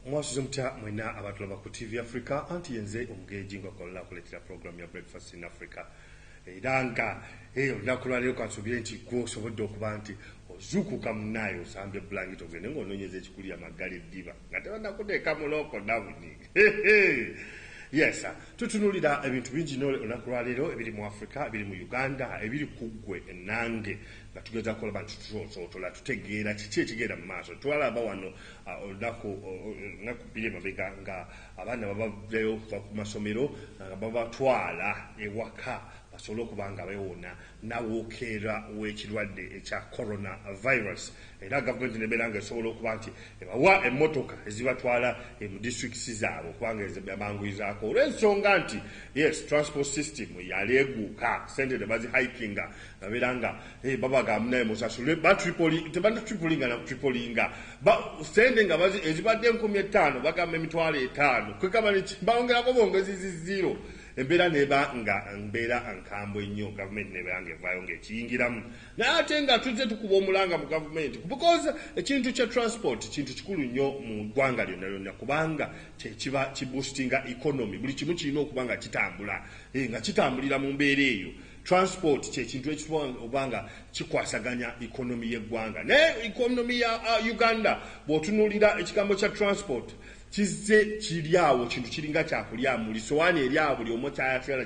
mwasuze mutya mwena abatulaba ku tv africa anti yenze omugeeji nga kwalala kuletera program ya breakfast in africa era nga eh, olunaku lwaleero kansubire nti gwe osobodde okuba nti ozuukuka munaayo osambye bulangiti ogende ngaononyeza ekikulya maggala eddiba nga tebanakuteeka mulooko nawuni yes tutunulira ebintu bingi nole olunaku lwaleero ebiri mu africa ebiri mu uganda ebiri kuggwe nange nga tugezaako olaba nti tusonsootola tutegeera kiki ekigenda mu maaso. Twalaba wano olunaku lunaku bbiri emabega nga abaana babavdayo okuva ku masomero nga babatwala ewaka basobole okuba nga bewona nawokeera w'ekirwadde ekya corona virus era gavumenti nebeera nga esobola okuba nti ebawa emmotoka ezibatwala e mu districts zaabwe okubanga ezibanguyizaako olw'ensonga nti yes transport system yaleeguuka sente ne bazihikinga babiranga eh, babaga munaye musasule batripoli tebanditripolinga nakutripolinga sente nga ezibadde enkumi ettaano bagamba emitwalo etaano kwekaba bawongerako bongezi ziziro embeera neba nga mbeera nkambwe nnyo gavumenti nebeera nga evaayo ngaekiyingiramu naye ate nga tuzze tukuba omulanga mu gavumenti because ekintu kya transport kintu kikulu nnyo mu ggwanga lyonna lyonna kubanga kyekiba kibusitinga economy buli kimu kirina okuba nga kitambula eh, nga kitambulira mu mbeera eyo Transport kyekintu ekituwa okuba nga kikwasaganya economy yeggwanga naye economy ya uh, Uganda bwotunulira ekigambo kya transport kizze kiri awo kintu kiringa kyakulya muli sowaani eri awo buli omu kyayatala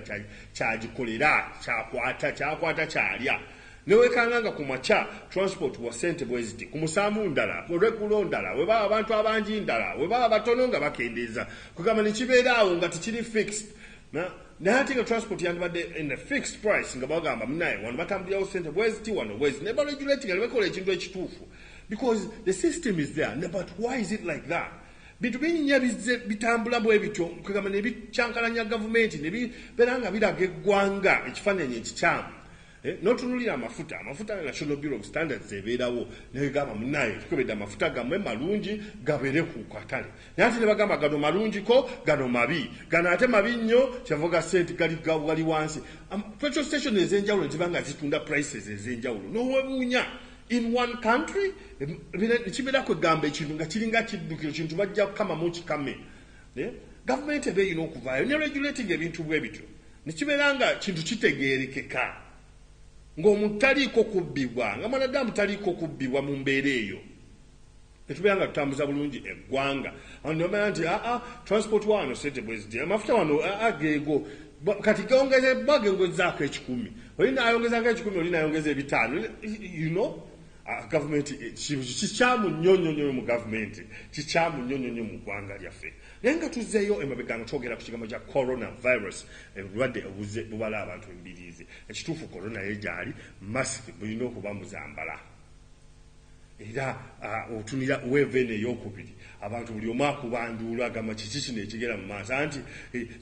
kyagikolera kyakwata kyakwata kyalya newekanga nga ku makya transport wa sente bweziti ku musanvu ndala olweggulo ndala webaba abantu abangi ndala webaba batono nga bakendeeza kugamba nekibeera awo nga tekiri fixed na naye ate nga transport yandibadde in a fixed price nga bagamba munaye wano batambulirawo sente bweziti wano bwezi ne baregulati nga nebakola ekintu ekituufu because the system is there ne but why is it like that bintu binyinya bizze bitambula bwe bityo kwegamba ne bikyankalanya gavumenti ne bibeera nga biraga eggwanga ekifaananyi ekikyamu Eh, notunulira amafuta amafuta nga national bureau of standards ebeerawo negamba munaye tukebedde amafuta gamwe malungi gabere ku katale naye ate nebagamba gano malungiko gano mabi gano ate mabi nnyo kyava gase nti gali wansi petrol station ezenjawulo ziba nga zitunda prices ezenjawulo nowebuunya in one country ekibeera kwegamba ekintu nga kiringa kiddukiro kintu bajja kukamamu kikame Eh? Gavumenti eba erina okuvaayo ne regulating ebintu bwe bityo ne kibeera nga kintu kitegeerekeka ng'omuntu taliiko kubbibwa nga mwanadamu taliiko kubbibwa mu mbeera eyo ne tubeera nga tutambuza bulungi eggwanga abantu bamala nti aa ah, ah, transport waano sente bweziti amafuta wano aa ah, geego kati gongezebwa gengezaako ekikumi oli naayongezako ekikumi oli naayongeza ebitaano you know Ah, gavumenti eh, kikyamu nnyo nnyo nnyo mu gavumenti kikyamu nnyo nnyo nnyo mu ggwanga lyaffe naye nga tuzzeeyo emabega nga twogera ku kigambo kya corona virus obulwadde eh, obuzze bubala abantu embiriizi ekituufu corona ye gyali masiki bulina okuba muzambala era ah, otunira weeva eno ey'okubiri Abantu buli omu akuba nduulu agamba kiki kino ekigenda mu maaso anti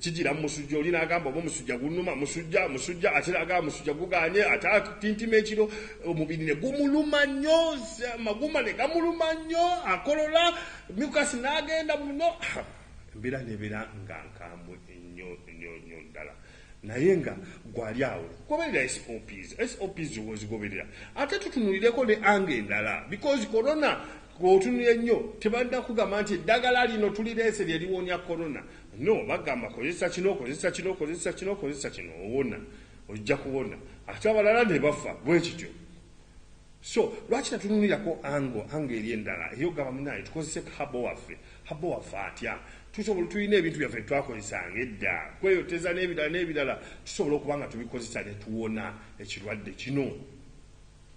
kijira mu musujja oli n'agamba oba omusujja gunnuma, musujja, musujja ate n'agamba musujja gugaanye ate atintima ekiro omubiri ne gumuluma nnyo amagumba ne gamuluma nnyo akolola mucus n'agenda muno embeera n'ebeera nga nkambwe nnyo nnyo nnyo ddala naye nga gwali awo goberera sops sops zoba ozigoberera ate tutunulireko ne anga endala because corona Gwe otunula ennyo tebalina kugamba nti eddagala lino tulireese lye liwonya corona. No, bagamba kozesa kino, kozesa kino, kozesa kino, kozesa kino owona. Ojja kuwona. Ate abalala ne bafa bwe kityo. So, lwaki tatunulirako angle, angle eri endala ey'okugamba munnange tukozese ka habo waffe. Habo waffe atya? Tusobola, tulina ebintu byaffe bye twakozesanga edda, kweyoteza n'ebirala n'ebirala, tusobola okuba nga tubikozesa ne tuwona ekirwadde kino.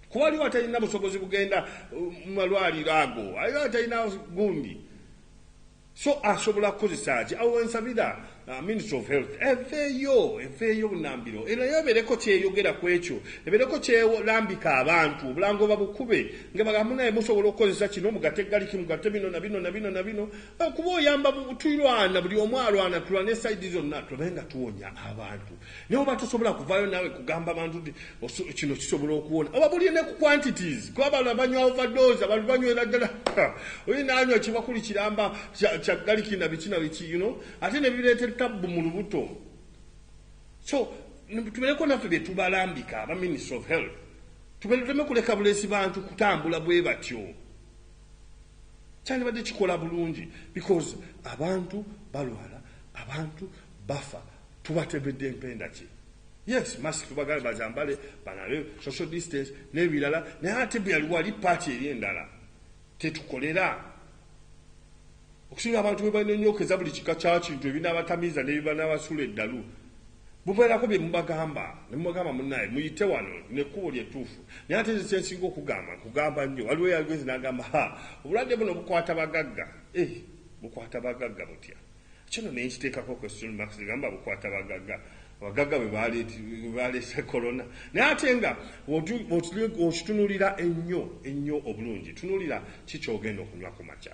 Kuba waliwo atalina busobozi bugenda uh, mu malwaliro ago, waliwo atalina gundi, so asobola kukozesa ki? Awo wensabira uh, Ministry of Health eveeyo, eveeyo bunambiro, era yabeereko kyeyogera ku ekyo, ebeereko kyelambika abantu, obulango babukube nga bagamu naye musobola okukozesa kino mugate galiki, mugate bino na bino na bino na bino, uh, kuba oyamba tulwana, buli omu alwana, tulwane saidi zonna, tube nga tuwonya abantu. Naye oba tosobola kuvayo nawe kugamba bantu nti kino kisobola okuwona oba buli ne ku quantities kuba bano abanywa overdose abantu banywera ddala oyi nanywa kibakuli kiramba kya galiki na biki na biki you know ate ne bireeta tabbu mu lubuto so tubeereko naffe bye tubalambika aba ministry of health tubeluteme kuleka bulesi bantu kutambula bwe batyo kyandibadde kikola bulungi because abantu balwala abantu bafa tubatebedde empenda ki yes mask tubagale bazambale banabe social distance nebirala naye ate bweyaliwo ali paati eri endala tetukolera Okusinga abantu bwe banonyokeza buli kika kya kintu ebinaabatamiiza ne bye banaabasuula eddalu, mubeerako bye mubagamba ne mubagamba munnaaye muyite wano lino ekkubo lye ttuufu. Naye ate nze kye nsinga okugamba, nkugamba nnyo, waliwo eyagenze n'agamba, Ha, obulwadde buno bukwata bagagga. Eh, bukwata bagagga butya? Ekyo nno ne nkiteekako question marks, ne ngamba, Bukwata bagagga? Abagagga be baaleese Corona? Naye ate nga bw'okitunulira ennyo ennyo obulungi, tunuulira ki ky'ogenda okunywa ku makya.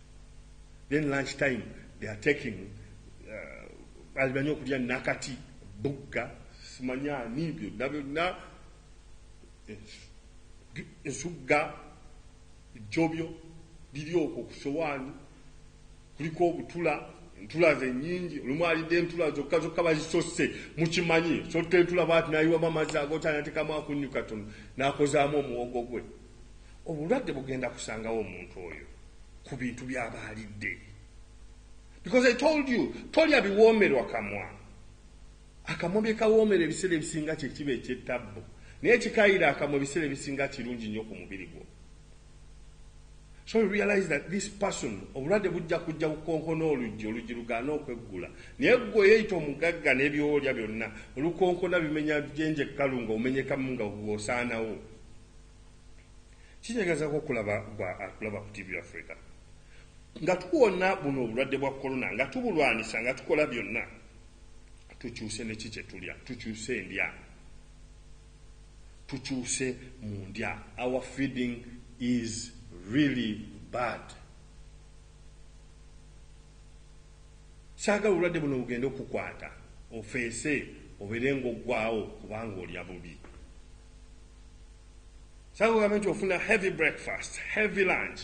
then lunch time they are taking uh, alimanyi okulya nakati bugga simanyaani byonna byonna ensugga ejjobyo biri okwo ku sowaani kuliko obutula entula ze nyingi olumu alidde entula zokka zokka bazisose mukimanyi sotta entula bwati nayiwamu amazzi agotanatekamu akunyu katono nakozaamu omuwogo gwe obulwadde bugenda kusangawo omuntu oyo ku bintu byaba alidde because i told you tolya biwoomerwa kamwa akamwa byekawoomera ebiseera ebisinga kyekiba ekyettabbu naye kikayira akamwa ebiseera ebisinga kirungi nnyo ku mubiri gwo so you realize that this person obulwadde bujja kujja kukonkona oluggi oluggi lugaana okweggula naye gwe yeyita omugagga nebyolya byonna olukonkona bimenya jenje kkalu nga omenyekamu nga gwosaanawo Kinyagazako okulaba gwa akulaba ku TV Africa nga tuwona buno obulwadde bwa corona nga tubulwanisa nga tukola byonna tukyuse neki kyetulya tukyuse endya tukyuse mu ndya our feeding is really bad saagala obulwadde buno bugende okukwata ofeese obeere ngaoggwawo kubanga olya bubi sakugambe nti ofuna heavy breakfast heavy lunch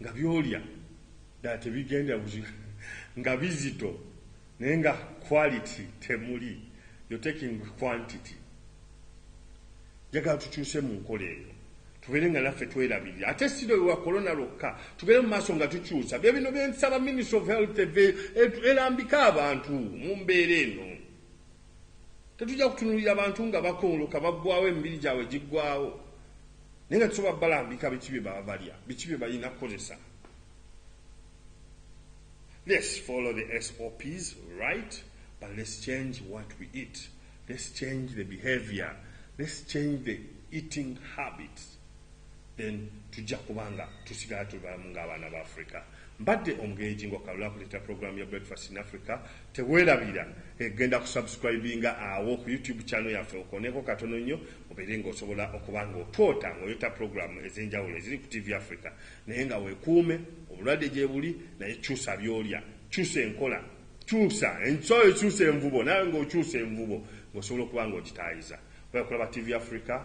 nga byolya ddala tebigenda nga bizito naye nga quality temuli yo taking quantity njagala tukyuse mu nkola eyo tubeere nga naffe twerabirira ate siro ewa kolona lwokka tugere mu maaso nga tukyusa bye bino byensaba ministry of health eve elambika abantu mu mbeera eno Tetujja kutunulira bantu nga bakongoka baggwawo emibiri gyabwe giggwawo naye nga tusobola balambika biki bye baba balya biki bye balina kukozesa. Let's follow the SOPs right but let's change what we eat. Let's change the behavior. Let's change the eating habits. then tujja kuba nga tusigala tuli balamu ng'abaana ba africa mbadde omugenyi ngo kalula kuleeta programu ya breakfast in africa teweerabira egenda kusubscribinga awo ku youtube channel yaffe okoneko katono nnyo obeere ng'osobola okuba ng'otwota ng'oyota programu ez'enjawulo eziri ku tv africa naye nga weekuume obulwadde gye buli naye kyusa byolya kyusa enkola kyusa ensola ekyusa envubo nawe ng'okyusa envubo ng'osobola okuba ng'okitaayiza okulaba tv africa